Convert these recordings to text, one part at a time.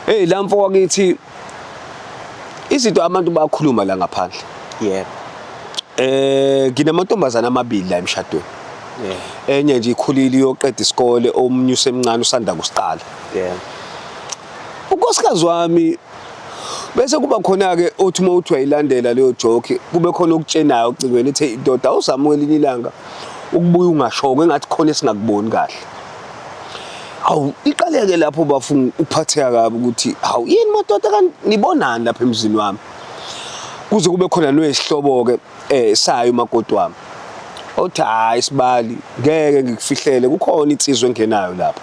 Hey la mfo wakithi izinto abantu bakhuluma la ngaphandle. Yebo. Eh nginamantombazana amabili la emshadweni. Enye nje ikhulile iyoqeda isikole omunye usemncane usanda kusiqala. Yebo. Unkosikazi wami bese kuba khona ke othi uma uthi wayilandela leyo joke kube khona okutshenayo ocingweni ethi ndoda awuzamukela ilanga ukubuya ungashoko engathi khona esingakuboni kahle. Awu iqaleke lapho bafunga ukuphatheka kabi ukuthi hawu yini madoda kanti nibonani lapha emzini wami. Kuze kube khona noyesihlobo ke eh sayo umakoti wami. Othi hayi sibali ngeke ngikufihlele kukhona insizwe engenayo lapha.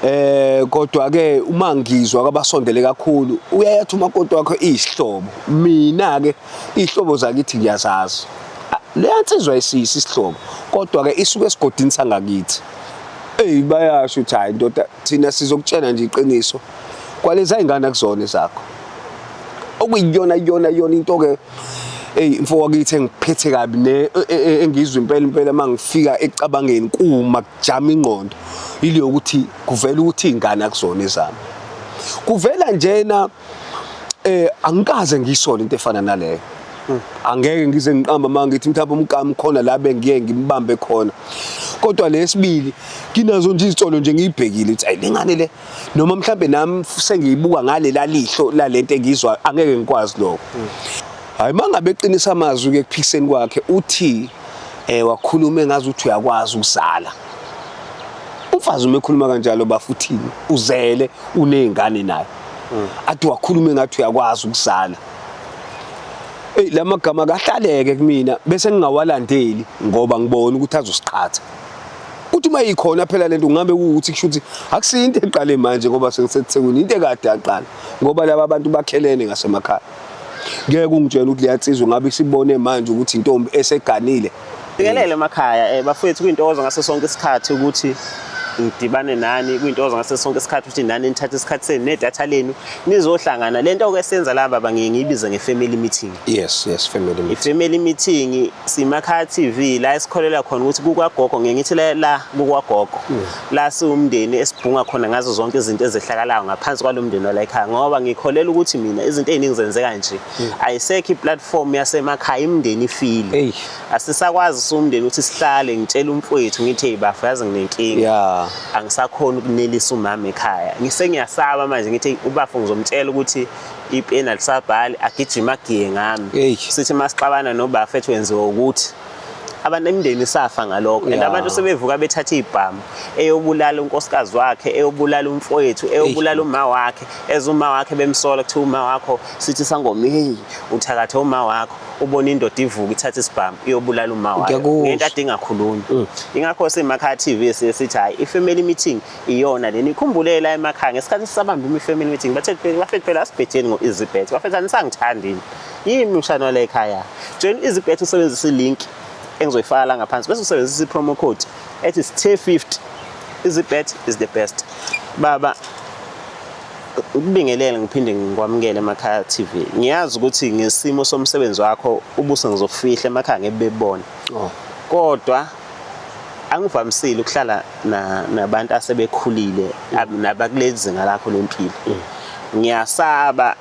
Eh kodwa ke uma ngizwa kabasondele kakhulu uyayathi umakoti wakho izihlobo. Mina ke Iy'hlobo zakithi ngiyazazi. Leya nsizwa isiyisi isihlobo kodwa-ke isuke esigodini sangakithi. Eyi bayasho ukuthi hhayi ndoda thina sizokutshena nje iqiniso kwalezi ay'ngane akuzona ezakho. Okuyiyona yona yona into-ke eyi mfo wakithi engiphethe kabi ne e, e, e, engizwa impela impela uma ngifika ekucabangeni kuma kujama ingqondo ile yokuthi kuvela ukuthi iy'ngane akuzona ezami kuvela njena eh angikaze ngisole into efana naleyo angeke ngize ngiqamba uma ngithi mhlawumbe umgama khona la bengiye ngimbambe khona kodwa lesibili kinazo nje izitolo nje ngiyibhekile ukuthi ayilingane le noma mhlawumbe nami sengiyibuka ngale lalihlo lalento engizwa angeke ngikwazi lokho hayi mangabe eqinisa amazwi ke kuphikiseni kwakhe uthi eh wakhuluma engazi ukuthi uyakwazi ukuzala umfazi uma ekhuluma kanjalo bafuthini uzele unezingane naye mm. athi wakhulume ngathi uyakwazi ukuzala eyi la magama kahlaleke kumina bese ngingawalandeli ngoba ngibona ukuthi azosiqhatha uthi uma yikhona phela lento ngambe ukuthi kusho ukuthi akusiyo into eqale manje ngoba sekusethekwini into ekade yaqala ngoba laba bantu bakhelene ngasemakhaya ngeke ungitshele ukuthi liyansizwa ngabe isibone manje ukuthi intombi eseganile Ngikelele emakhaya eh bafowethu kuyintokozo ngaso sonke isikhathi ukuthi ngidibane nani kuyintokozo ngaso sonke isikhathi ukuthi nani nithathe isikhathi senu nedatha lenu nizohlangana lento ke senza la baba ngiye ngiyibize nge-family meeting yes yes family meeting i-family meeting simakhaya TV la esikholela khona ukuthi kukwagogo ngiye ngithi la- la kukwagogo la siwumndeni esibhunga khona ngazo zonke izinto ezehlakalayo ngaphansi kwalo mndeni walayikhaya ngoba ngikholela ukuthi mina izinto eziningi zenzeka nje hmm. ayisekho iplatform yasemakhaya imndeni ifile asisakwazi siwumndeni ukuthi sihlale ngitshela umfowethu ngithi hey bafo yazi nginenkinga angisakhona ukunelisa umama ekhaya ngisengiyasaba manje ngithi ubafo ngizomtshela ukuthi ipeni alisabhali agijima agiye ngami sithi masixabana nobafethu wenziwa ukuthi abantu emndeni safa ngalokho and Yeah. abantu sebevuka bethatha ibhamu eyobulala unkosikazi wakhe eyobulala umfowethu eyobulala uma wakhe eza uma wakhe bemsola kuthiwa uma wakho sithi sangoma heyi uthakathe uma wakho ubona indoda ivuka ithatha isibhamu iyobulala uma wayo Ngiyakusho. ngento ade ingakhulumi ingakho simakhaya tv siye sithi hhayi i-family meeting iyona leni ikhumbule la emakhaya ngesikhathi sisabamba imi-family meeting bathe bafethu phela asibhetheni ngo-easybet bafethu anisangithandi yini Yini umshana wale ekhaya? Join izibethu usebenzisa i-link engizoyifaka la ngaphansi bese usebenzisa i-promo code ethi sthe50 izibet is the best baba ukubingelele ngiphinde ngikwamukele emakhaya TV ngiyazi ukuthi ngesimo somsebenzi wakho ubuso ngizofihla emakhaya ngebebona oh. kodwa angivamisile ukuhlala nabantu asebekhulile nabakulezi zinga lakho lempilo mm. ngiyasaba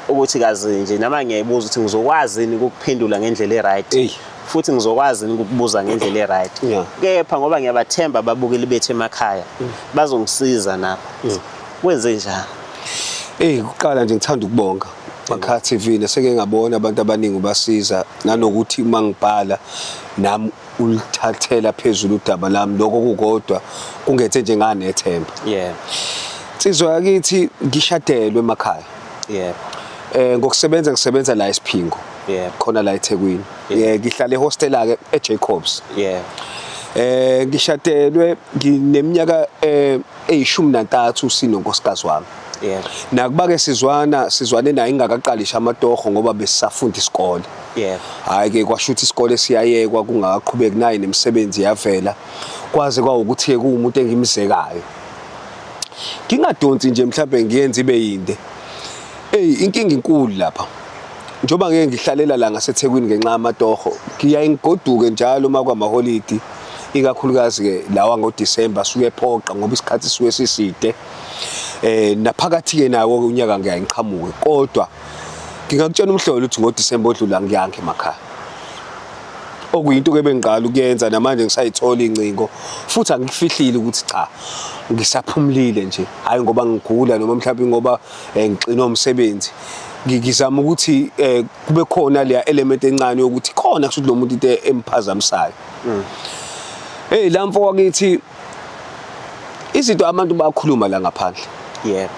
ukuthi kazi nje nama ngiyayibuza ukuthi ngizokwazi yini ukuphendula ngendlela e-right Eyi. futhi ngizokwazi yini ukukubuza ngendlela e-right Yeah. kepha ngoba ngiyabathemba ababukeli bethu emakhaya bazongisiza nabo kwenze njani Eyi kuqala nje ngithanda ukubonga Makha TV neseke ngabona abantu abaningi ubasiza nanokuthi uma ngibhala nami ulithathela phezulu udaba lami lokho kukodwa kungethe nje nganethemba yebo nsizwa yakithi ngishadelwe emakhaya yebo eh ngokusebenza ngisebenza la esiphingo yebo khona la eThekwini eh ngihlala ehostela ke eJacobs yebo eh ngishadelwe ngineminyaka eh eyishumi nantathu sinonkosikazi wami yeah. nakuba ke sizwana sizwane naye ingakaqalisha amatoho ngoba besisafunda isikole yeah. hhayi ke kwasho ukuthi isikole siyayekwa kungakaqhubeki naye nemisebenzi yavela kwaze kwawukuthi-ke kuwumuntu engimzekayo ngingadonsi nje mhlawumbe ngiyenze ibe yinde eyi inkinga inkulu lapha njengoba ngeke ngihlalela la ngasethekwini ngenxa yamatoho ngiyaye ngigoduke njalo uma kwamaholidi ikakhulukazi-ke lawa ngodisemba asuke ephoqa ngoba isikhathi sisuke siside um naphakathi-ke nawo unyaka ngiyaye ngiqhamuke kodwa ngingakutshela umhlolo ukuthi ngodisemba odlula ngiyange emakhaya okuyinto-ke bengiqala ukuyenza namanje ngisayithola iy'ncingo futhi angifihlile ukuthi cha ngisaphumulile nje hhayi ngoba ngigula noma mhlawumbe ngoba um eh, ngixinwe umsebenzi ngizama ukuthi um kube khona leya element encane yokuthi khona kushuthi lo muntu into emphazamisayo mm. hey la mfo wakithi izinto abantu bakhuluma la ngaphandle yebo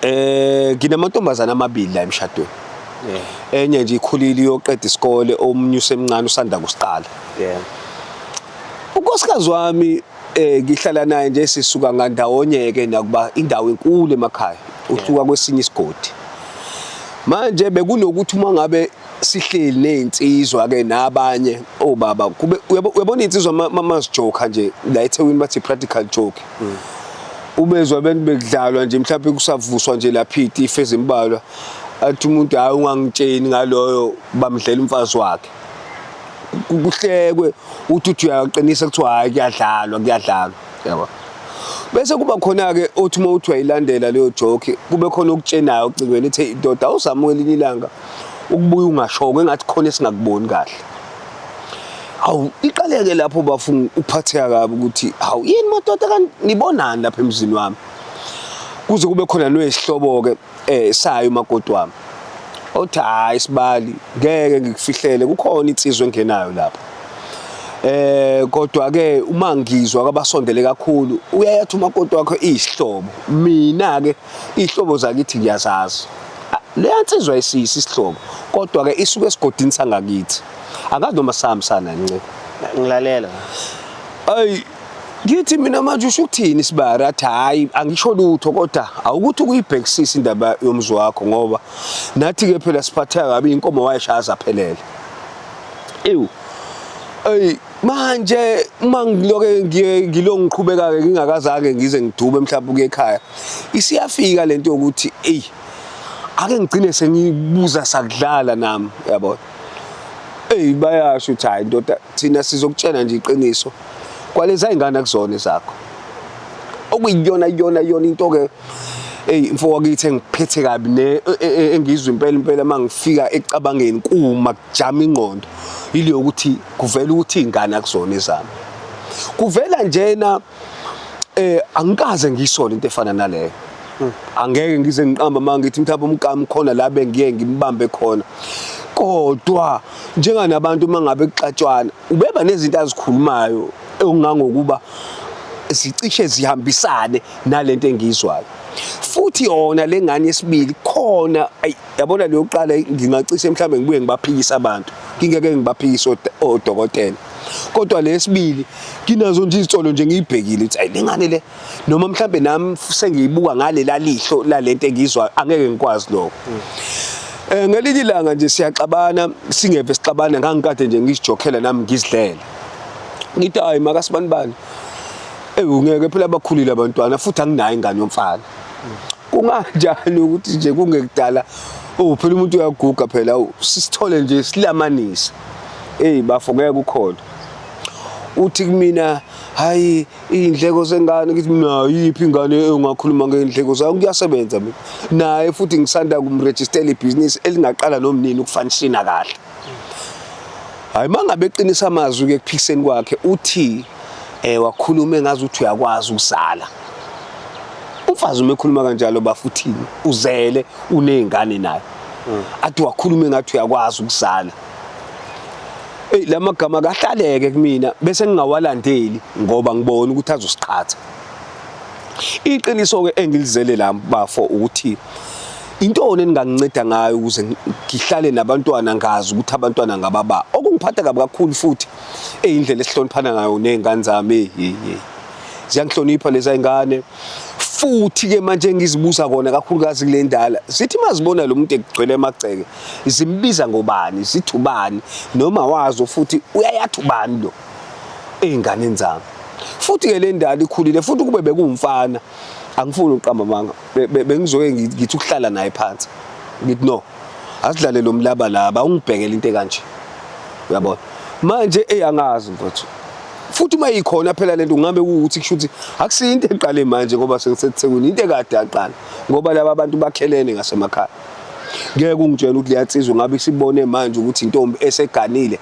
eh nginamantombazana amabili la emshadweni enye nje ikhulile iyoqeda isikole omunye usemncane usanda kusiqala yebo unkosikazi wami eh ngihlala naye nje sisuka ngandawonye ke nakuba indawo enkulu emakhaya usuka kwesinye isigodi manje bekunokuthi uma ngabe sihleli nezinsizwa ke nabanye obaba oh, kube uyabona insizwa mama sijoka nje la eThekwini bathi practical joke mm. ubezwa abantu bekudlalwa nje mhlawumbe kusavuswa nje lapha ife ezimbalwa athi umuntu hayi ungangitsheni ngaloyo bamdlela umfazi wakhe kuhlekwe uthi uthi uyaqinisa kuthiwa hayi kuyadlalwa kuyadlalwa yabo bese kuba khona ke othi uma uthi wayilandela leyo joke kube khona okutshenayo ocingweni ethi indoda awuzamukela ilanga ukubuya ungashongo engathi khona esingakuboni kahle hawu iqaleke lapho bafuna ukuphatheka kabi ukuthi hawu yini madoda kanti nibonani lapha emzini wami kuze kube khona noyisihlobo-ke um sayo umakoti wami othi hhayi sibali ngeke ngikufihlele kukhona insizwa engenayo lapho eh kodwa ke uma ngizwa kwabasondele kakhulu uyayathi umakoti wakho izihlobo mina ke Iy'hlobo zakithi ngiyazazi. Leya nsizwa isiyisi isihlobo kodwa-ke isuke esigodini sangakithi. Angazi noma sihambisana nce. Ngilalela. Ayi ngithi mina manje usho ukuthini isibari athi hhayi angisho lutho kodwa awukuthi ukuyibhekisisa indaba yomzi wakho ngoba nathi-ke phela siphatheka kabi inkomo wayeshaya zaphelele ewu eyi manje uma ngiloke ngilo ngiqhubeka-ke ngingakazange ngize ngidume mhlawumbe ukuye ekhaya isiyafika le nto yokuthi eyi ake ngigcine sengibuza sakudlala nami yabona eyi bayasho ukuthi hhayi ndoda thina sizokutshena nje iqiniso kwalezi ay'ngane akuzona ezakho okuyiyona yona yona into-ke eyi mfo wakithi engiphethe kabi ne e, e, e, engizwe impela impela uma ngifika ekucabangeni kuma kujama ingqondo ile yokuthi kuvela ukuthi ingane akuzona ezami kuvela njena eh angikaze ngisole into efana naleyo hmm. angeke ngize ngiqamba manje ngithi mthapha umkami khona la bengiye ngimbambe khona kodwa njenganabantu uma ngabe kuxatshwana ubeba nezinto azikhulumayo ongangokuba zicishe zihambisane nalento engizwayo futhi yona lengane yesibili khona ayi yabona leyo kuqala ngingacishe mhlawumbe ngibuye ngibaphikise abantu ngingeke ngibaphikise odokotela kodwa lesibili nginazo nje izitolo nje ngiyibhekile ukuthi ayilingane le noma mhlawumbe nami sengiyibuka ngale lalihlo lalento engizwa angeke ngikwazi lokho eh ngelinye ilanga nje siyaxabana singeve sixabana ngangikade nje ngizijokhela nami ngizidlela ngithi hayi makasibanibani ewungeke phela abakhulile abantwana futhi anginayo ingane yomfana kunganjani ukuthi nje kungekudala oh phela umuntu uyaguga phela sisithole nje silamanise hey bafo ngeke ukhona uthi kumina hayi iy'ndleko zengane ngithi mina yiphi ingane engakhuluma ngey'ndleko zayo kuyasebenza mina naye futhi ngisanda kumrejistela ibhizinisi elingaqala nomnini ukufanishina kahle hayi mangabe eqinisa amazwi ke kuphikiseni kwakhe uthi eh wakhuluma engazi ukuthi uyakwazi ukuzala umfazi uma ekhuluma kanjalo bafuthini uzele unezingane naye mm. athi wakhuluma engathi uyakwazi ukuzala Ey lamagama kahlaleke kumina bese ngingawalandeli ngoba ngibona ukuthi azosiqhatha. Iqiniso ke engilizele la bafo ukuthi Intoni eninganginceda ngayo ukuze ngihlale nabantwana ngazi ukuthi abantwana ngababa. Okungiphatha kabi kakhulu futhi eyindlela esihloniphana ngayo nezingane zami. Hey hey. Ziyangihlonipha lezi zingane. Futhi ke manje ngizibuza kona kakhulukazi kule ndala. Zithi mazibona lo muntu egcwele emagceke, zimbiza ngobani, zithi ubani noma wazo futhi uyayathi ubani lo ezinganeni zami. Futhi ke le ndala ikhulile futhi kube bekumfana. Angifuni uqamba amanga. bengizoke ngithi ukuhlala naye phansi ngithi no asidlale lo mlaba laba awungibhekele into ekanje uyabona manje eyangazi mfowethu futhi uma ikhona phela lento ngabe ukuthi kushuthi akusiyo into eqale manje ngoba sengisethekwini into ekade aqala ngoba laba bantu bakhelene ngasemakhaya ngeke ungitshela ukuthi liyatsizwa ngabe sibone manje ukuthi intombi eseganile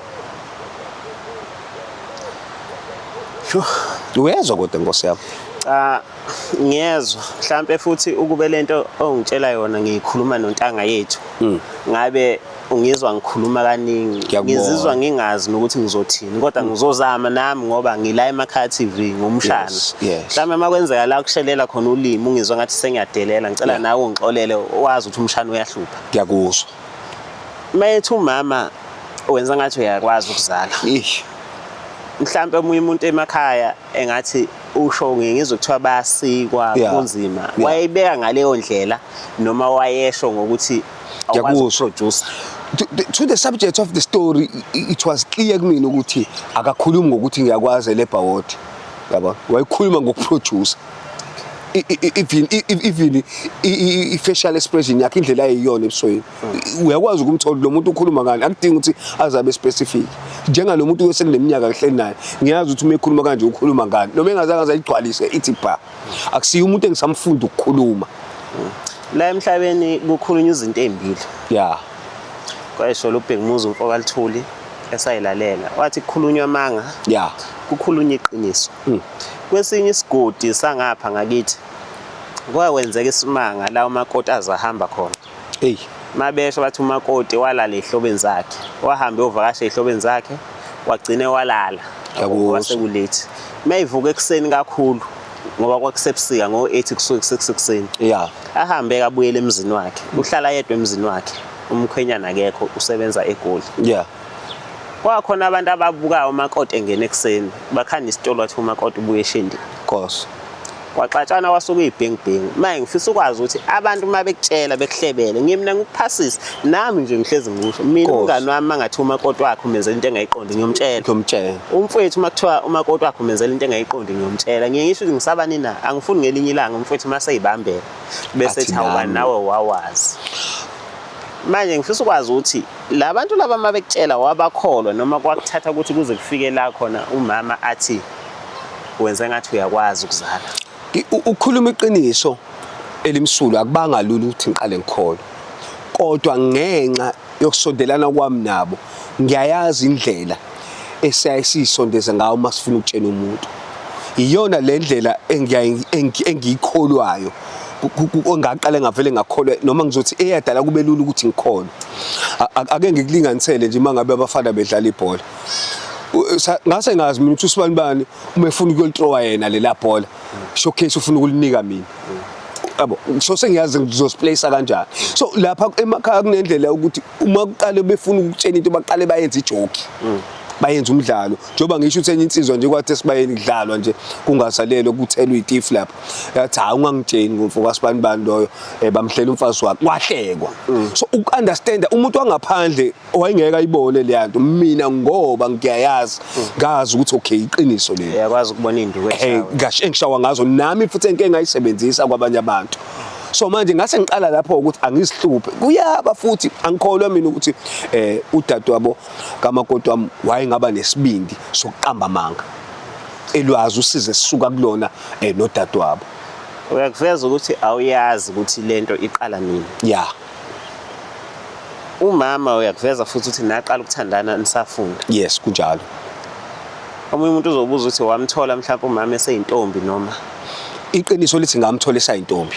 uyezwa kodwa nkosi yami cha ngiyezwa mhlampe futhi ukube lento ongitshela yona ngiyikhuluma nontanga yethu mm. ngabe ungizwa ngikhuluma kaningi ngizizwa ngingazi nokuthi ngizothini kodwa mm. ngizozama nami ngoba ngila emakhaya TV ngumshana mhlawumbe uma kwenzeka la kushelela khona ulimi ungizwa ngathi sengiyadelela ngicela nawe ungixolele wazi ukuthi umshana uyahlupha ngiyakuzwa mayethu umama wenza ngathi uyakwazi ukuzala mhlampe omunye umuntu emakhaya engathi usho ngizwe kuthiwa bayasikwa Yeah. kunzima Yeah. wayebeka ngaleyo ndlela noma wayesho ngokuthi awukwazi Ngiyakusho. ukuproducer to, the- to the subject of the story i- i- it was clear kumina ukuthi akakhulumi ngokuthi ngiyakwazi elebha wodi yabo wayekhuluma ngokuproducer I- i- i- even i- i- even i- i- i-facial expression yakhe indlela ayiyona ebusweni uyakwazi ukumthola lo muntu ukhuluma ngani akudingi ukuthi azabe specific njengalo muntu osekuneminyaka kuhleli naye ngiyazi ukuthi uma ekhuluma kanje ukhuluma ngani noma engazange azayigcwalise ithi bha akusiye umuntu engisamfunda ukukhuluma la emhlabeni kukhulunywa izinto ezimbili ya kwayishola ubhekumuzi umfokalithuli esayilalela wathi kukhulunywa amanga ya kukhulunywa iqiniso hmm. kwesinye isigodi sangapha ngakithi kwakwenzeka isimanga la umakoti azahamba khona eyi mabesho bathi umakoti walala ehlobeni zakhe wahambe ovakasha ehlobeni zakhe wagcine walala wasekulethi mayivuka ekuseni kakhulu ngoba kwakusebusika ngo-8 kusuke kuseks ekuseni ya ahambe kabuyele emzini wakhe uhlala yedwa emzini wakhe umkhwenyana akekho usebenza egoli ya kwakhona abantu ababukayo umakoti engena ekuseni bakhanda isitolo wathi umakoti ubuye eshindini course kwaxatshana wasuka iy'bhengibhengu manje ngifisa ukwazi ukuthi abantu uma bekutshela bekuhlebele ngimna ngikuphasise nami nje ngihlezi ngikusho mina umngani wami angathi umakoti wakhe umenzela into engayiqondi ngiyomtshela ngiyomtshela umfowethu uma kuthiwa umakoti wakhe umenzela into engayiqondi ngiyomtshela ngiye ngisho ukuthi ngisabani na angifuni ngelinye ilanga umfowethu uma seyibambela bese ethi awubani nawe wawazi manje ngifisa ukwazi ukuthi la bantu laba uma bekutshela wabakholwa noma kwakuthatha ukuthi kuze kufike la khona umama athi wenze ngathi uyakwazi ukuzala ukukhuluma iqiniso elimsulwa akubanga lula ukuthi ngiqale ngikhole kodwa ngenxa yokusondelana kwami nabo ngiyayazi indlela esiyaye siyisondeze ngayo uma sifuna ukutshena umuntu iyona le ndlela engiyikholwayo ongaqale ngavele ngakholwa noma ngizothi eyadala kube lula ukuthi ngikhona ake ngikulinganisele nje uma ngabe abafana bedlala ibhola ngase ngazi mina ukuthi usibani bani uma efuna ukuyolitrowa yena lela bhola showcase ufuna ukulinika mina yabo so sengiyazi ngizosiplace kanjani so lapha emakhaya kunendlela ukuthi uma kuqale befuna ukutshena into baqale bayenze ijoki bayenza umdlalo njengoba ngisho ukuthi enye insizwa nje kwathi esibayeni kudlalwa nje kungasalelo kuthelwa itif lapha yathi hayi ungangitsheni ngomfo kasibani bani loyo eh, bamhlela umfazi wakhe wahlekwa mm. so uku-understanda umuntu wangaphandle wayengeke ayibone leya nto mina ngoba ngiyayazi ngazi ukuthi okay iqiniso leli uyakwazi ukubona induku eh ngasho engishawa ngazo nami futhi enke ngayisebenzisa kwabanye abantu so manje ngase ngiqala lapho ukuthi angisihluphe kuyaba futhi angikholwa mina ukuthi eh udadewabo kamakoti wami wayengaba nesibindi sokuqamba amanga elwazi usize sisuka kulona eh nodadewabo uyakuveza ukuthi awuyazi ukuthi lento iqala nini yeah umama uyakuveza futhi ukuthi naqala ukuthandana nisafunda yes kunjalo omunye umuntu uzobuza ukuthi wamthola mhlawumbe umama eseyintombi noma iqiniso lithi ngamthola esayintombi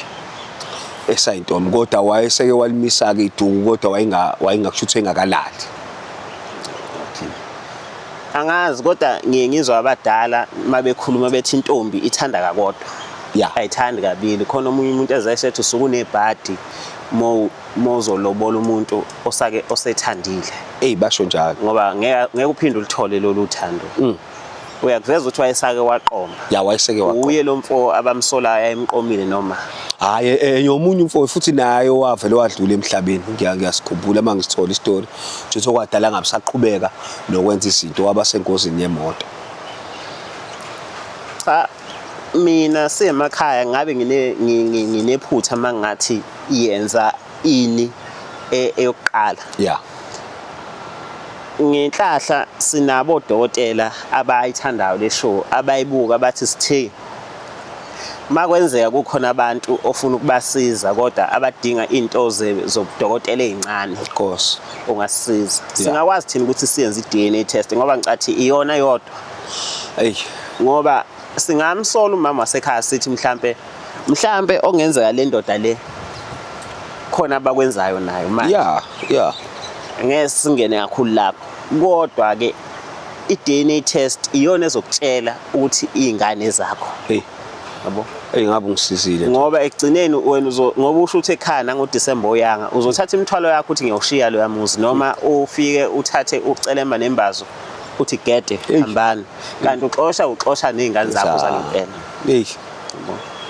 esayintombi kodwa wayeseke walimisa-ke iduku kodwa wayengakusho ukuthi engakalali angazi kodwa ngiye ngizwa abadala uma bekhuluma bethi intombi ithanda kakodwa yeah. ayithandi kabili khona omunye umuntu ezesethi usukunebhadi mozolobola umuntu osake osethandile eyi basho njalo ngoba ngeke uphinde ulithole lolu thando mm. uyakuveza ukuthi wayesake waqoma ya wayeseke waqoma uye lo mfo abamsolayo ayemqomile noma hayi eh, eh, yomunye umfo futhi naye owavele wadlula emhlabeni ngiyasikhumbula uma ngisithola isitori nje sokwadala ngabe saqhubeka nokwenza izinto waba sengozini yemoto cha mina semakhaya ngabe nginephutha uma ngathi yenza ini e, eyokuqala yeah ngenhlahla sinabo odokotela abayithandayo le show abayibuka abathi sithe makwenzeka kukhona abantu ofuna ukubasiza kodwa abadinga into zobudokotela ezincane of course ungasisiza singakwazi thina ukuthi siyenze i-DNA test ngoba ngicathi iyona yodwa Ey ngoba singamsola umama wasekhaya sithi mhlambe mhlambe ongenzeka le ndoda le khona abakwenzayo nayo manje. Yeah, yeah. Ngeke singene kakhulu lapho. Kodwa ke i-DNA test iyona ezokutshela ukuthi izingane zakho. Hey. Yabo? Ey ngabe ungisizile. Ngoba ekugcineni wena uzo ngoba usho ukuthi ekhaya nango December oyanga uzothatha imithwalo yakho uthi ngiyoshiya lo yamuzi noma ufike uthathe ucelemba nembazo uthi gede hambani kanti uxosha uxosha nezingane zakho zalempela hey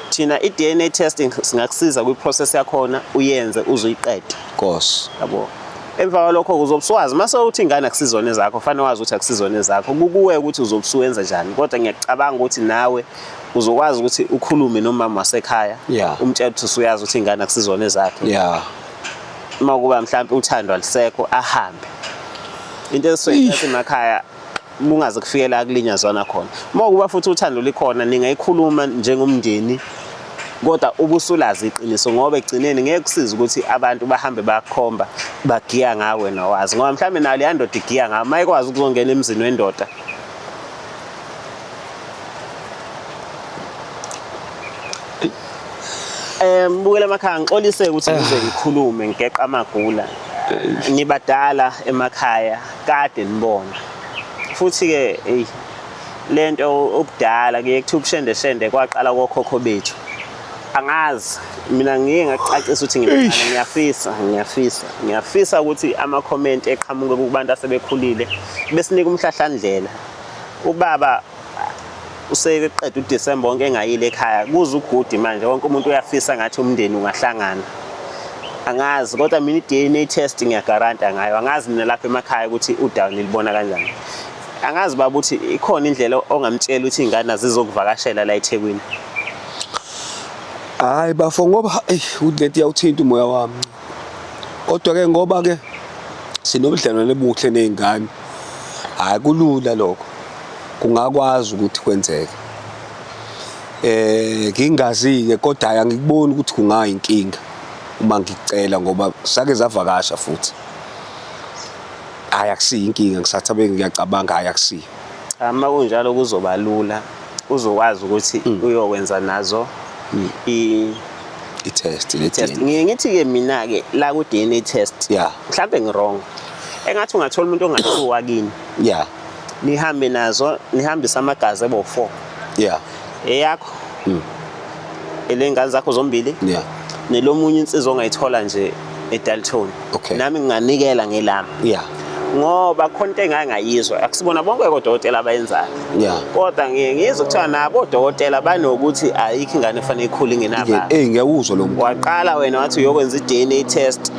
thina i-DNA testing singakusiza kwi-process yakhona uyenze uzuyiqede course yabo emva kwalokho uzobuswazi mase uthi ingane akusizona zakho fanele wazi ukuthi akusizona zakho kukuwe ukuthi uzobusuwenza njani kodwa ngiyacabanga ukuthi nawe uzokwazi ukuthi ukhulume nomama wasekhaya yeah. umtshela ukuthi usuyazi ukuthi ingane akusizona zakhe yeah uma kuba mhlawumbe uthando alisekho ahambe into eswethu emakhaya bungaze kufikela akulinyazwana khona uma kuba futhi uthando likhona ningayikhuluma njengomndeni kodwa ubusulazi iqiniso ngoba egcineni ngeke kusize ukuthi abantu bahambe bakhomba bagiya ngawe nawazi ngoba mhlawumbe nayo leya ndoda igiya ngawe uma ikwazi ukuzongena emzini wendoda Eh mbukela emakhaya ngixolise ukuthi eh. ngize ngikhulume ngigeqa amagula. Eh. Nibadala emakhaya kade nibona. Futhi ke hey lento ubudala kuye kuthi ubushende shende kwaqala kokhokho bethu. Angazi mina ngiye ngacacisa ukuthi ngimncane ngiyafisa ngiyafisa ngiyafisa ukuthi ama comment eqhamuke kubantu asebekhulile besinika umhlahlandlela ubaba useqeda uDisemba wonke engayile ekhaya kuze ugudi manje wonke umuntu uyafisa ngathi umndeni ungahlangana angazi kodwa mina i-DNA test ngiyagaranta ngayo angazi mina lapha emakhaya ukuthi udown libona kanjani angazi baba ukuthi ikhona indlela ongamtshela ukuthi ingane azizokuvakashela la eThekwini hayi bafo ngoba udleti yawuthinta umoya wami kodwa ke ngoba ke sinobudlelwane obuhle nezingane hayi kulula lokho kungakwazi ukuthi kwenzeke eh ngingazi-ke kodwa hayi angikuboni ukuthi kungayinkinga uma ngicela ngoba sake zavakasha futhi hayi akusiyo inkinga ngisathi abe ngiyacabanga hayi akusiyo Cha uma kunjalo kuzoba lula uzokwazi ukuthi mm. uyokwenza nazo mm. i i-test test ngiye ngithi-ke mina-ke la ku-dna test yeah. mhlawumbe ngi-wrong engathi ungathola umuntu ongathiwa kini yeah. nihambe nazo nihambise amagazi ebo-four yeah eyakho mm. elengane zakho zombili yeah nelomunye insizwa ongayithola nje eDalton okay. nami nginganikela ngelami yeah ngoba khona into engangayizwa akusibona bonke kodokotela abayenzayo yeah kodwa ngiye ngizwe kuthiwa nabo odokotela banokuthi ayikho ingane efanele ikhule ngenaba eh ngiyawuzwa lo waqala wena wathi uyokwenza i-DNA test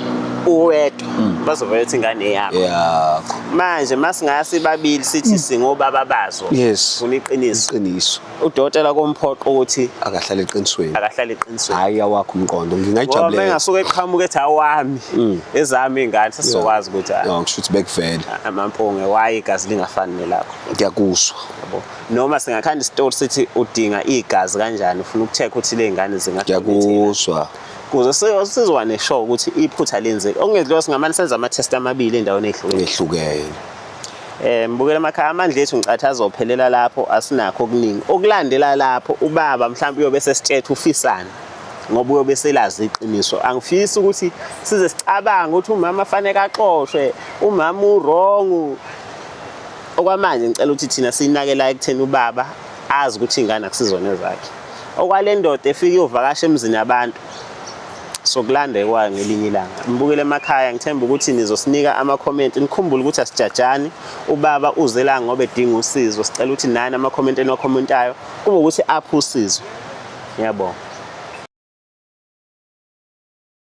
uwe kodwa mm. bazovela ukuthi ingane eyakho yakho manje masingasi babili sithi mm. singobaba bazo yes funa iqiniso iqiniso udokotela komphoqo ukuthi akahlale eqinisweni akahlale eqinisweni hayi awakho umqondo ngingayijabulela ngoba engasuke eqhamuka ethi awami mm. ezami ingane sesizokwazi ukuthi hayi ngisho ukuthi bekuvele amampunge waye igazi lingafani nelakho ngiyakuswa yabo noma singakhanda isitoli sithi udinga igazi kanjani ufuna ukucheck ukuthi lezingane zingathi ngiyakuswa kuze sizwane sho ukuthi iphutha lenzeke okungedliwa singamane senza ama-test amabili endaweni ehlukene um bukela amakhaya amandla ethu ngicathi azophelela lapho asinakho okuningi okulandela lapho ubaba mhlawumbe uyobe sesitshetha ufisana ngoba uyobe selazi iqiniso angifisi ukuthi size sicabange ukuthi umama afanele axoshwe umama urong okwamanje ngicela ukuthi thina siyinakela ekutheni ubaba azi ukuthi ingane akusizona zakhe okwale ndoda efike iyovakasha emzini yabantu sokulanda ekwayo ngelinye ilanga nibukele emakhaya ngithemba ukuthi nizosinika amakhomenti nikhumbule ukuthi asijajani ubaba uze la ngoba edinga usizo sicela ukuthi nani amakhomenti eniwakhomentayo kube ukuthi aphe usizo ngiyabonga